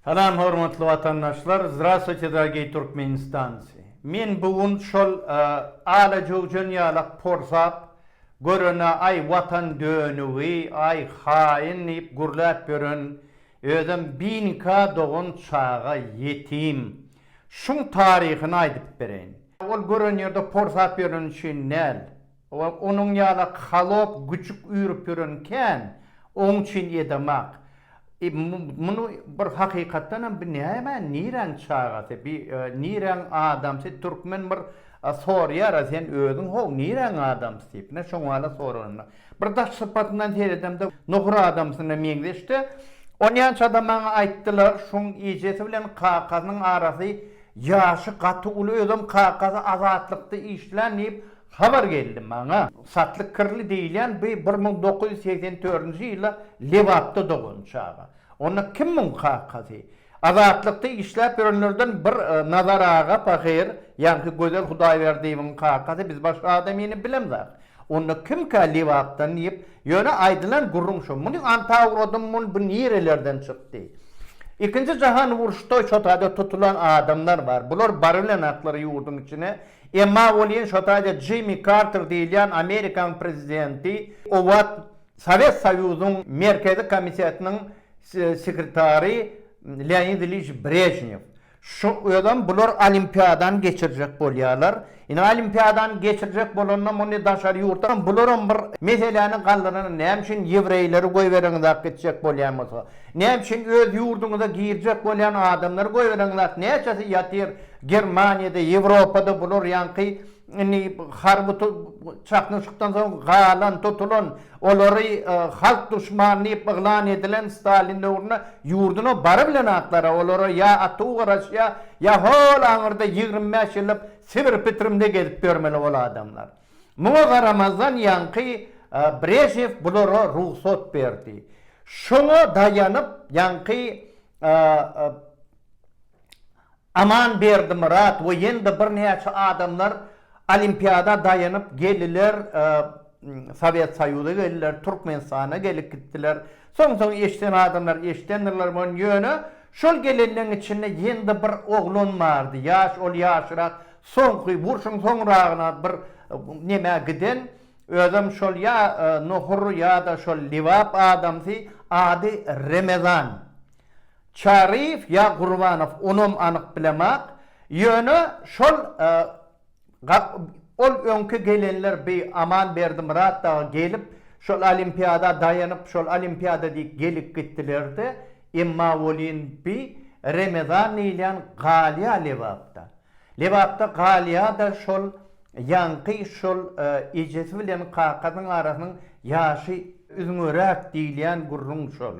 Salam hormatly watandaşlar Zdrastwuyte dragey Turkmenistanci men bu gün şol ala jüwjen ýalak porsap görene aý watan dönügi aý haýyn diýip gürläp ýören özem binika dogan çaga ýetim şuň taryhyny aýdyp bereýin. Ol gören ýerde porsap ýöreni üçin däl. Ol onuň ýaly halop güjük üýrüp ýören kän, oň üçin ýedamak. E, muny bir hakykatdan hem bi näme, niräň çagasy, bi niräň adamsy, türkmen bir sorýar-a, sen özüň how, niräň adamsy diýip. Ine, şoň wala soranymda. Bir daş sypatyndan seredemde, nohur adamsyna meňzeşdi. Onýança da maňa aýtdylar, şoň ejesi bilen kakasynyň arasy, ýaşy gaty uly, özem kakasy Azatlykda işlän diýip, Habar geldi maňa. Satlyk Kirli diýilýän bi bir müň dokuz ýüz segsen dördünji ýyla Lebapda dogan çaga. Onda kim muň kakasy? Azatlykda işläp ýörenlerden bir Nazar aga pahyr, ýaňky Gözel Hudaýberdiýewiň kakasy, biz başga adamyny bilemzak. Onda kimkä Lebapdan diýip, ýöne aýdylan gürrüň şo. Muny anta ugradym, muny bu nirelerden çykdy. Ikinji jahan uruşda şo taýda tutulan adamlar bar. Bular barybilenaklar ýurduň içine Emma welin şo taýda Jimmi Karter diýilýän Amerikanyň prezidenti o wagt Sowet Soýuzynyň Merkezi Komitetiniň sekretary Leonid Iliç Brežnew şu özem bular olimpiadany geçirjek bolýarlar. Indi olimpiadany geçirjek bolanda muny daşary ýurtdan bularam bir meseläni galdyran näme üçin ýewreýleri goýberiňiz ak gitjek bolýan bolsa. Näme üçin öz ýurduňyza girjek bolýan adamlary goýberiňiz ak näçesi ýatyr Germaniýada, Ýewropada bular ýaňky indi harby çaknyşykdan soň galan, tutulan, olary halk duşmany diýip yglan edilen Stalin döwründe ýurduna bary bilen atlara, olara ýa atuw garaşýa, ýa hol aňyrda ýigrimi bäş ýyllap Sibir Pitrimde gezip ýörmeli ol adamlar. Muňa garamazdan ýaňky Brežnew bulara rugsat berdi. Şoňa daýanyp ýaňky Aman Berdimyrat we ýene-de birnäçe adamlar Olimpiada daýanyp geldiler, Sowet Soýuza geldiler, Türkmenistana gelip gitdiler. Soň-soň eşiden adamlar eşidendirler muny, ýöne şol gelenleriň içinde ýene-de bir oglan bardy, ýaş, ol ýaşyrak, soňky urşuň soňragyna bir nämä giden, özem şol ýa Nohur ýa-da şol Lebap adamsy, ady Remezan. Çaryýew ýa Gurbanow onam anyk bilemak ýöne şol gap ol öňki gelenler bi Aman Berdimyrat dagy gelip şol olimpiada daýanyp şol olimpiada diýip gelip gitdilerdi emma welin bi Remezan diýilýän galýa Lebapda Lebapda galýada şol ýaňky şol ejesi bilen kakasynyň arasynyň ýaşy üzňeräk diýilýän gürrüň şol.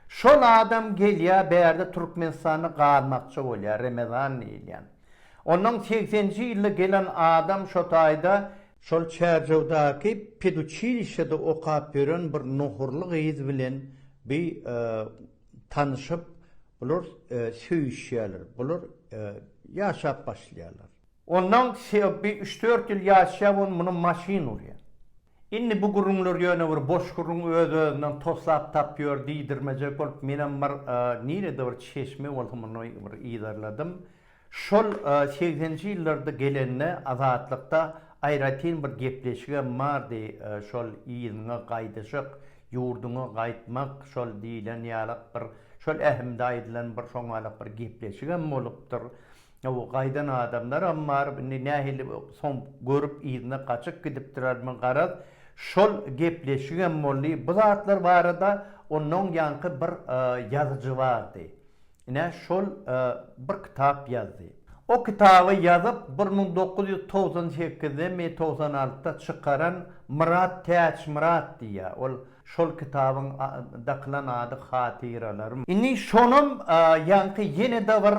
Şol adam gelýä bärde Türkmenistanda galmakçy bolýa Remezan diýilýän. Ondan segseninji ýylda gelen adam şo taýda. Şol Çärjewdaky peduçilişede okap ýören bir nohurly gyz bilen bi tanyşyp bular söýüşýäler. Bular ýaşap başlaýarlar. Ondan bi üç-dört ýyl ýaşap on muny maşyn urýa. Indi bu gürrüňler ýöne bir boş gürrüň, öz-özünden toslap tap ýör diýdirmejek bolup, menem bir nirede bir çeşme bolsa muny bir yzarladym. Şol segsenji ýyllarda gelende Azatlykda aýratyn bir gepleşigem bardy, şol yzyňa gaýdyşyk, ýurduňa gaýtmak şol diýlen ýalak bir, şol ähimde aýdylan bir şoňalak bir gepleşigem bolupdyr. Hawa, gaýdan adamlaram bar. Indi nähili soň görüp, yzyna gaçyp gidipdirermi, garaz, şol gepleşigem boldy. Bu zatlar barada onnoň ýaňky bir ýazyjy bardy. Ine, şol bir kitap ýazdy. O kitaby ýazyp, bir müň dokuz ýüz togsan sekizde mi, togsan altyda çykaran Myrat Täçmyrat diýýär. Ol Şol kitabyň dakylan ady Hatyralarym. Indi şonam ýaňky ýene-de bir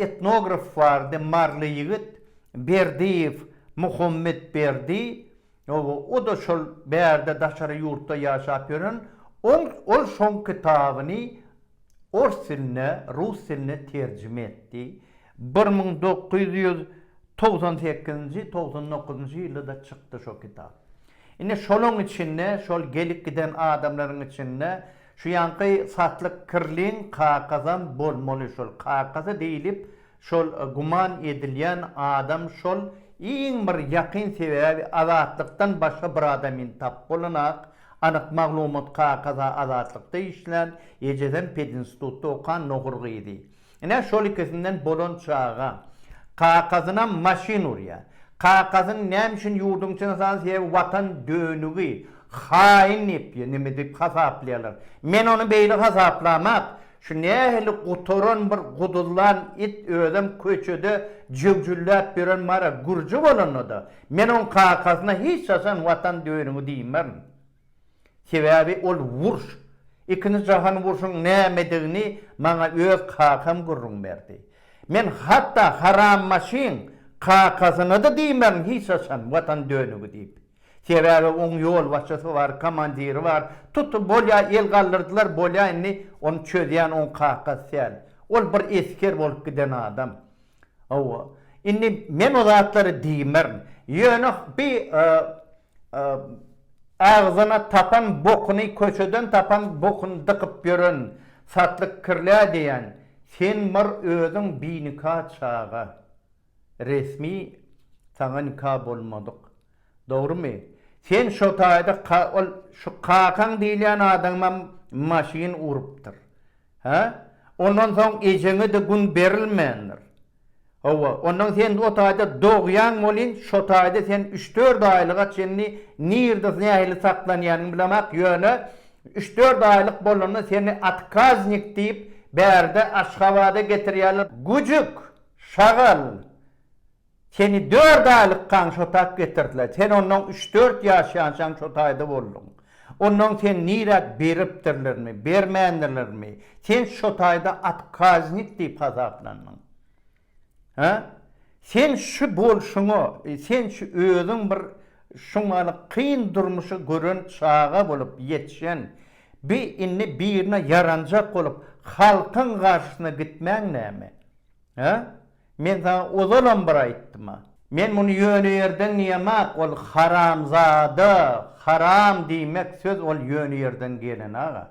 etnograf bardy, maryly ýigit, Berdiýew Muhammet Berdi. O-da şol bärde daşary ýurtda ýaşap ýören. Ol şoň kitabyny ors diline, rus diline terjime etdi. Bir müň dokuz ýüz togsan sekizinji, togsan dokuzynjy ýylda-da çykdy şo kitap. Indi şolaň içinde, şol gelip giden adamlaryň içinde şu ýanky Satlyk Kirliň kakasam bolmaly şol kakasy diýlip şol guman edilýän adam şol iň bir ýakyn sebäbi Azatlykdan başga bir adam indi tap bolanak anyk maglumat kakasy Azatlykda işlän ejesem pedinstutda okan nohur gyzy Ine, şol ikisinden bolan çaga kakasynam maşyn urýa. Kakasyny näme üçin ýurduň içine saldy? Sebäbi Watan dönügi, haýyn diýip, ýa neme diýip hasaplaýarlar. Men ony beýle hasaplamak, şu nähili gutaran bir guduzlan it özem köçede jöwjülläp ýören mara gürji bolanda-da, men oň kakasyna hiç haçan Watan dönügi diýmerin. Sebäbi ol uruş, Ikinji jahan urşuň nämedigini maňa öz kakam gürrüň berdi. Men hatda haram maşyn kakasyna-da diýmerin hiç haçan Watan dönügi diýip. Sebäbi oň ýolbaşçysy bar, komandiri bar, tuty bolýa el galdyrdylar, bolýa indi ony çözýän oň kakasy däl. Ol bir esger bolup giden adam. Hawa, indi men o zatlary diýmerin. Ýöne bi Agzyna tapan bokuny köçeden tapan bokuny dykyp ýören satlyk kirlä diýen sen bir özüň binika çaga resmi saňa nika bolmadyk dogrymy sen şotaýda ol şu kakaň diýilýän adamam maşyn urupdyr hä ondan soň ejeňede gün berilmändir. Hawa, ondan sen o taýda dogýaň welin, şo taýda sen üç-dört aýlyga çenli nirde, nähili saklanýanyňy bilemak, ýöne üç-dört aýlyk bolanda seni otkaznik diýip, bärde Aşgabada getirýärler. Güjük, şagal, seni dört aýlykkaň şo tak getirdiler. Sen ondan üç-dört ýaş ýaşaň şo taýda bolduň. Ondan sen nirä beripdirlermi, bermändirlermi, sen şo taýda otkaznik diýip hasaplandyň. Hä? Sen şu bolşuňa, sen şu özüň bir şuňňaly kyn durmuşy gören çaga bolup ýetişen, bi indi birine ýaranjak bolup halkyň garşysyna gitmäň näme? Hä? Men saňa ozalam bir aýtdym-a. Men muny ýöne ýerden diýemok, ol haramzada, haram diýmek söz ol ýöne ýerden gelen aga.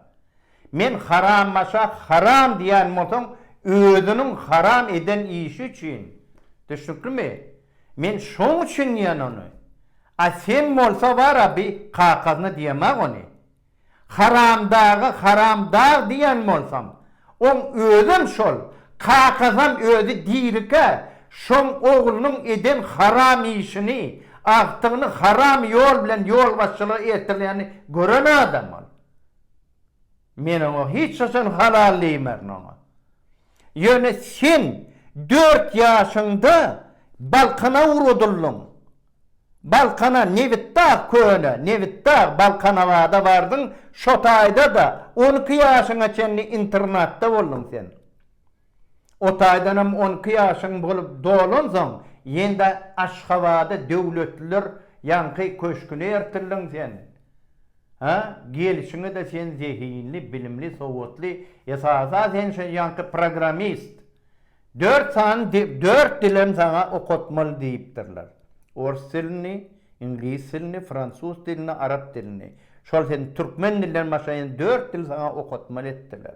Men harambaşa haram diýen bolsaň özüniň haram eden işi üçin. Düşnüklimi? Men şoň üçin diýen ony. A sen bolsa bar-a bi kakasyna diýemok ony. Haramdaga haram dag diýen bolsaň, oň özem şol, kakasam özi dirikä şoň oglunyň eden haram işini, agtygyny haram ýol bilen ýolbaşçylyga ertirýänini gören adam ol. Men oňa hiç haçan halal diýmerin oňa. Ýöne sen dört ýaşyňda balkana ugradyldyň. Balkana Nebitdag köne Nebitdag Balkanabada bardyň şo taýda-da on iki ýaşyňa çenli internatda bolduň sen. O taýdanam on iki ýaşyň bolup dolansoň ýene-de Aşgabada Döwletliler ýaňky köşküne ertildiň sen. Hä, gelşiňe-de sen zehinli, bilimli, sowatly, esasa sen şo ýaňky programmist. Dört sany dört dilem saňa okatmaly diýipdirler. Ors dilini, iňlis dilini, fransuz dilini, arap dilini. Şol sen türkmen dilinden başga ýene dört dil saňa okatmaly etdiler.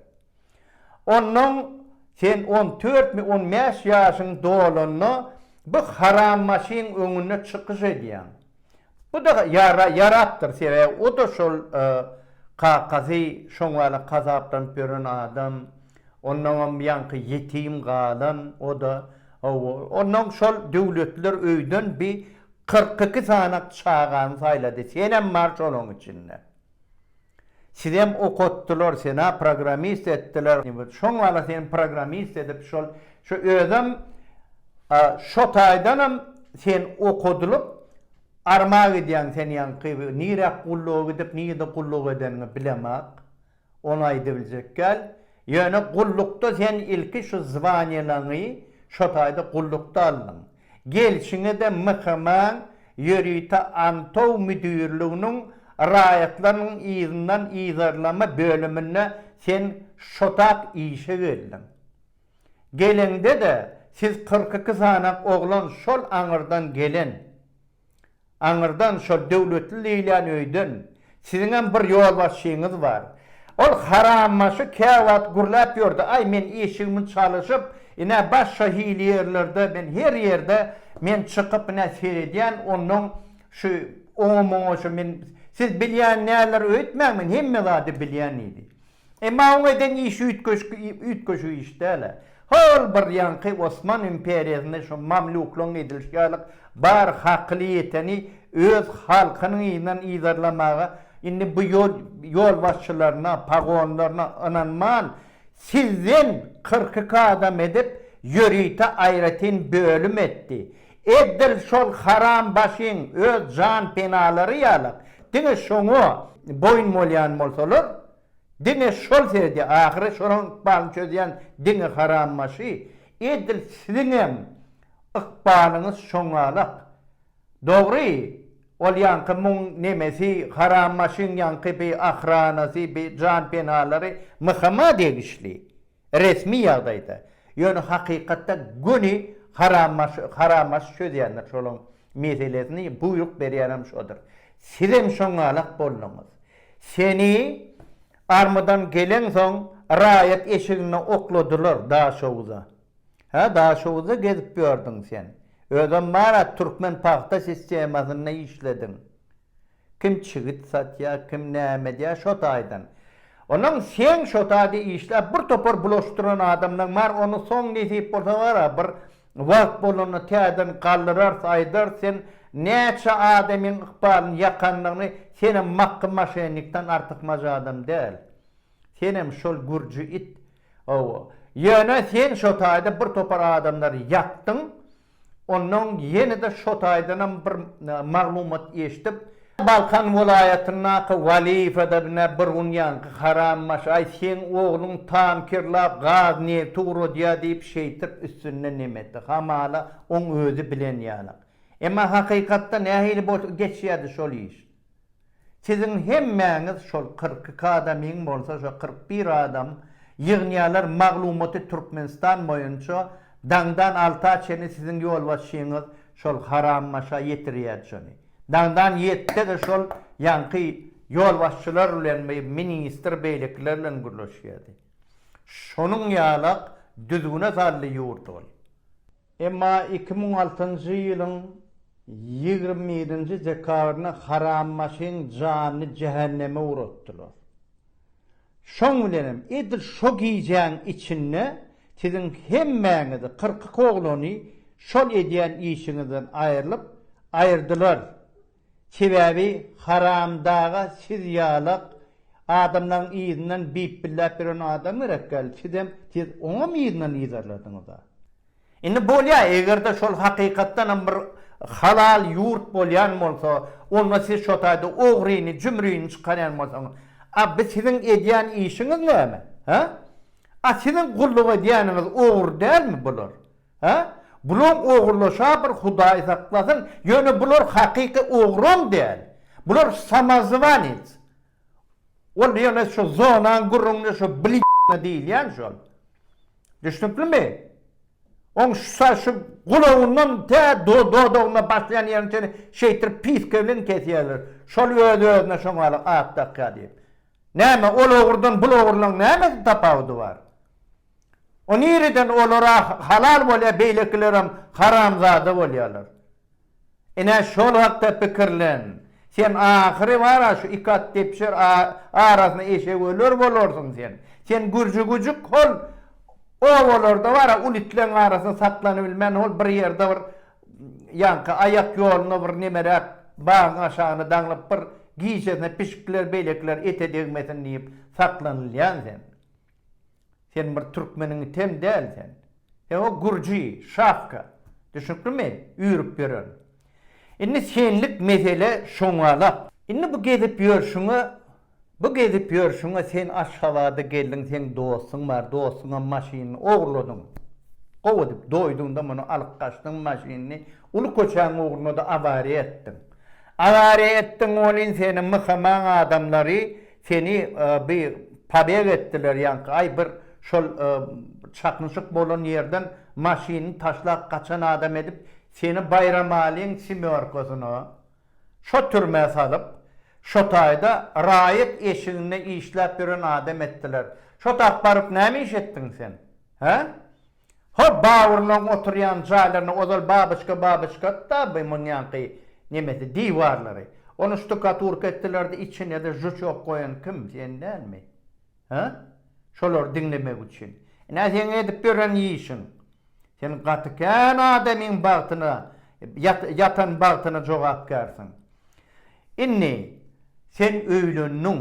Onnoň sen on dörtmi, on bäş ýaşyň dolanda bu harambaşyň öňünde çykyş edýäň. Bu-da ýara, ýarapdyr, sebäbi o-da şol kakasy şoňňala kazaplanyp ýören adam, onnoňam ýaňky ýetim galan, o-da, hawa, onnoň şol döwletliler öýden bi kyrk iki sany çagany saýlady, senem bar şolaň içinde. Sizem okatdylar sena programist etdiler şoň bala seni programist edip şol şo özem şo taýdanam sen okadylyp arma gidýäň sen ýaňky niräk gulluga gidip nirde gulluk edeniňi bilemak ony aýdybiljek däl ýöne gullukda sen ilki şu zwanýalaňy şo taýda gullukda aldyň Gelşine-de MHM-iň Ýörite antow müdirliginiň Raýatlaryň yzyndan yzarlama bölüminde sen şotap işe geldiň. Geleňde-de siz kyrk iki sany oglan şol aňyrdan gelen. Aňyrdan şol döwletli diýilýän öýden siziňem bir ýolbaşçyňyz bar. Ol harambaşy käwagt gürläp ýördi, Aý, men işigimi çalyşyp, ine, baş şo hili ýerlerde, men her ýerde men çykyp, ine, seredýän, onnoň şu oňa-muňa şu men, siz bilýän näler öýtmäň, men hemme zady bilýän diýdi. Emma oň eden işi üýtgeşik iş däl-ä. Hol bir ýaňky Osman imperiýasynda şu mamluklaryň edilişi ýaly bar hakyly ýeteni öz halkynyň yzyndan yzarlamaga indi bu ýol ýolbaşçylaryna, pagonlaryna ynanman, sizden kyrk iki adam edip, ýörite aýratyn bölüm etdi. Edil şol haram başyň öz jan penalary ýalak diňe şoňa boýun bolýan bolsalar diňe şol seredi ahyry şolaň ykbalyny çözýän diňe haram başy edil siziňem ykbalyňyz şoňalak dogry ol ýaňky muň nemesi haram başyň ýaňky bi ahranasy bi jan penalary mhma degişli. Resmi ýagdaýda, ýöne hakykatda göni harambaşy harambaşy çözýändir şolaň meselesini, buýruk berýänem şodur. Sizem şoňalak bolduňyz. Seni armydan geleňsoň raýat eşiginde okladylar Daşoguza. Hä, Daşoguzda gezip ýördüň sen. Özem bar-a Türkmenpagta sistemasynda işlediň. Kim çigit satýa, kim näme edýä şo taýdan. Onuň seň şo taýda işläp bir topar bulaşdyran adamlaň bar ony soň nesip bolsa bara bir wagt bolanda täzeden galdyrarys aýdarys sen näçe adamyň ykbalyny ýakanlygyny senem makgy maşennikden artykmaç adam däl senem şol gürji it owo ýöne sen şo taýda bir topar adamlary ýakdyň Ondan ýene-de şo taýdanam bir maglumat eşdip. Balkan welaýatyndaky Walifada bine bir gün ýaňky harambaş, aý seň ogluň tankerlap gaz nebti uradýa diýip şeýtip üstünde neme etdi. Hamala oň özi bilen ýalak. Emma hakykatda nähili bolup geçýädi şol iş. Siziň hemmäňiz şol kyrk iki adamyň bolsa şo kyrk bir adam ýygnýalar maglumaty Türkmenistan boýunça daňdan alta çenli siziň ýolbaşçyňyz şol haram maşa ýetirýädi şony. Daňdan ýetde-de şol ýaňky ýolbaşçylar bilen bi ministr beýlekiler bilen gürleşýädi. Şonuň ýalak düzgüne saldy ýurt ol. Emma iki müň altynjy ýylyň ýigrimi ýedinji dekabrynda harambaşyň janyny jähenneme ugratdylar. Şoň bilen hem edil şo gijäň içinde siziň hemmäňizi, kyrk iki oglany şol edýän işiňizden aýrylyp, aýyrdylar Sebäbi haramdaga siz ýalak adamlaň yzyndan bip-billäp ýören adam gerek däl, sizem siz oňam yzyndan yzarlardyňyza. Indi bolýa egerde şol hakykatdanam bir halal ýurt bolýan bolsa, onda siz şotaýda ogryny, jümrini çykarýan bolsaňyz, a bi siziň edýän işiňiz näme? Hä? A siziň gulluk edýäniňiz ogry dälmi bular? Hä? Bulaň ogurlaşa bir hudaý saklasyn, ýöne bular hakyky ogrom däl. Bular samozwanets. Ol ýöne şu zonaň gürrüňini şu blidna diýilýän şol. Düşnüklimi? Oň şusa şu gulagyndan tä dodagyna başlaýan ýerine çenli şeýtirip piska bilen kesýärler. Şol öz-özüne şoňala at dakýar diýip. Näme ol ogurdan bul ogurlaň nämesi tapawudy bar? O nireden olara halal bolýar beýlekilerem haramzada bolýarlar. Ine şol hakda pikirlen. Sen ahyry bara şu iki at depişer arasyna eşek öler bolarsyň sen. Sen gürji güjük hol obalarda bara ul itleň arasyna saklanybilmän hol bir ýerde bir ýaňky aýak ýoluna bir nemeräk bagyň aşagyna daňlyp bir gijesine pişikler beýlekiler ete degmesin diýip saklanylýan sen. Sen bir türkmeniň item däl sen. Sen o gürji, şapka. Düşnüklimi? Üýrüp ýören. Indi senlik mesele şoňalak. Indi bu gezip ýörşüňe, bu gezip ýörşüňe sen Aşgabada geldiň, seň dostuň bar, dostuňam maşynyny ogurladyň. Gowy edip doýduň-da muny alyp gaçdyň maşynyny, uly köçäň ugrunda-da awariýa etdiň. Awariýa etdiň welin seni myhamaň adamlary Seni by pobeg etdiler ýaňky aý bir şol çaknyşyk bolan ýerden maşynyny taşlap gaçan adam edip seni Baýramalyň semýorkasyna şo türmä salyp şo taýda raýat eşiginde işläp ýören adam etdiler şo tap baryp näme iş etdiň sen hä? Ho, Bawurlaň oturýan jaýlaryny ozal babyçka babyçkatda by munýanky nemesi diwarlary. Ony ştukaturka etdilerdi içinede žuçok goýan kim sen dälmi? Hä? Şolary diňlemek üçin. Ine seň edip ýören işiň. Sen gaty kän adamyň bagtyna ýatan bagtyna jogapkärsiň. Indi sen öýlendiň.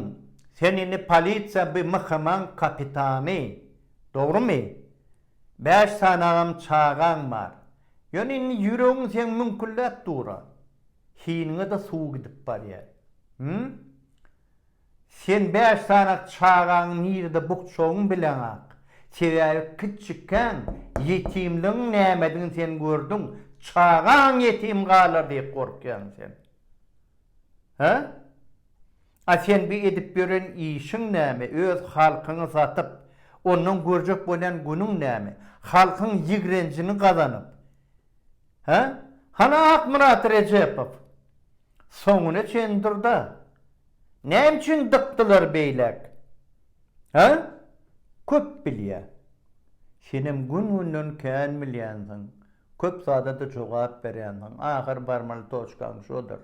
Sen indi polisiýa by mhmyň kapitany. Dogrymy? Bäş sanagam çagaň bar. Ýöne indi ýüregiň seň müňkülläp dur-a. Hiniňe-de suw gidip barýar. Him? Sen bäş sanak çagaňy nirede bukjagyňy bileňak. Sebäbi kiçikkäň ýetimligiň nämedigini sen gördüň. Çagaň ýetim galar diýip gorkýaň sen. Hä? A sen bi edip ýören işiň näme öz halkyňy satyp ondan görjek bolýan günüň näme halkyň ýigrenjiňi gazanyp hä hany Akmyrat Rejepow soňuna çen durda näme üçin dykdylar beýläk hä köp bilýä senem gün günden kän bilýänsiň köp zadada jogap berýänsiň ahyr barmaly toçkaň şodur.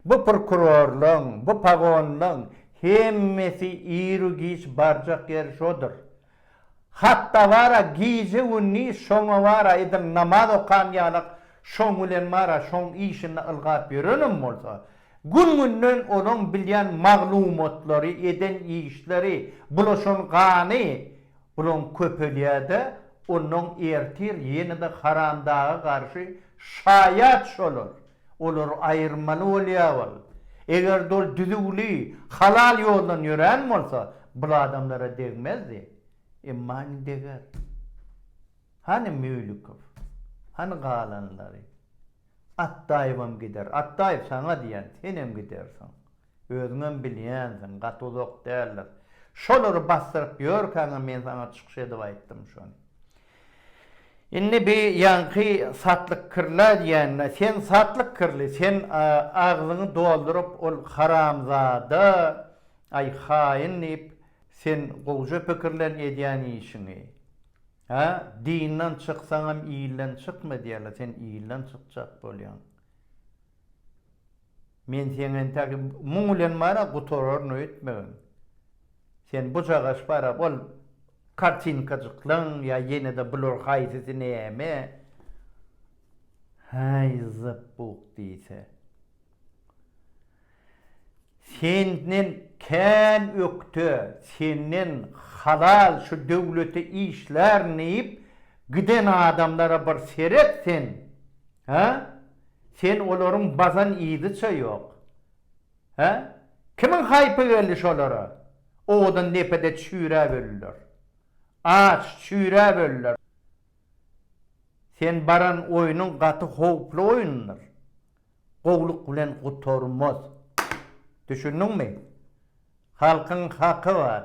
Bu prokurorlaň, bu pagonlaň hemmesi iru-giç barjak ýeri şodur. Hatda bar-a gije-gündiz şoňa bar aýdym, namaz okan ýalak şoň bilen bar-a şoň işini ylgap ýörenem bolsa, gün-günden olaň bilýän maglumatlary, eden işleri, bulaşan gany bulaň köpelýär-de, onnoň ertir ýene-de haramdaga garşy şaýat şolar. Olary aýyrmaly bolýar wol. Eger-de ol düzüwli, halal ýoldan ýörän bolsa, bul adamlara degmezdi. Emma indi deger. Hany Müýlükow? Hany galanlary? Atdaýewem gider. Atdaýew saňa diýen, senem gidersiň. Özüňem bilýänsiň, gaty uzak däldir. Şolary basdyryp ýörkäňem men saňa çykyş edip aýtdym şony. Indi bi ýaňky satlyk kirla diýende, sen satlyk kirli, sen agzyňy dolduryp ol haramzada, aý haýyn diýip, sen gowja pikirlen edýän işiňi. Hä, dinden çyksaňam ilden çykma diýerler, sen ilden çykjak bolýaň. Men seň entäk muň bilen bar-a gutararyn öýtmegem. Sen bujagaş bar-a ol kartinkajyklaň ýa ýene-de bular haýsysy näme? Häý, zypbuk diýse. Senden kän ökde, senden halal şu döwlete işlärin diýip giden adamlara bir seret sen, hä? Sen olaryň bazan yzyça ýok. Hä? Kimiň haýpy geldi şolara? Owadan depede çüýräp öldiler. Aç, çüýräp öldiler. Sen baran oýnuň gaty howply oýundyr. Gowluk bilen gutarmaz. Düşündiňmi? Halkyň haky bar.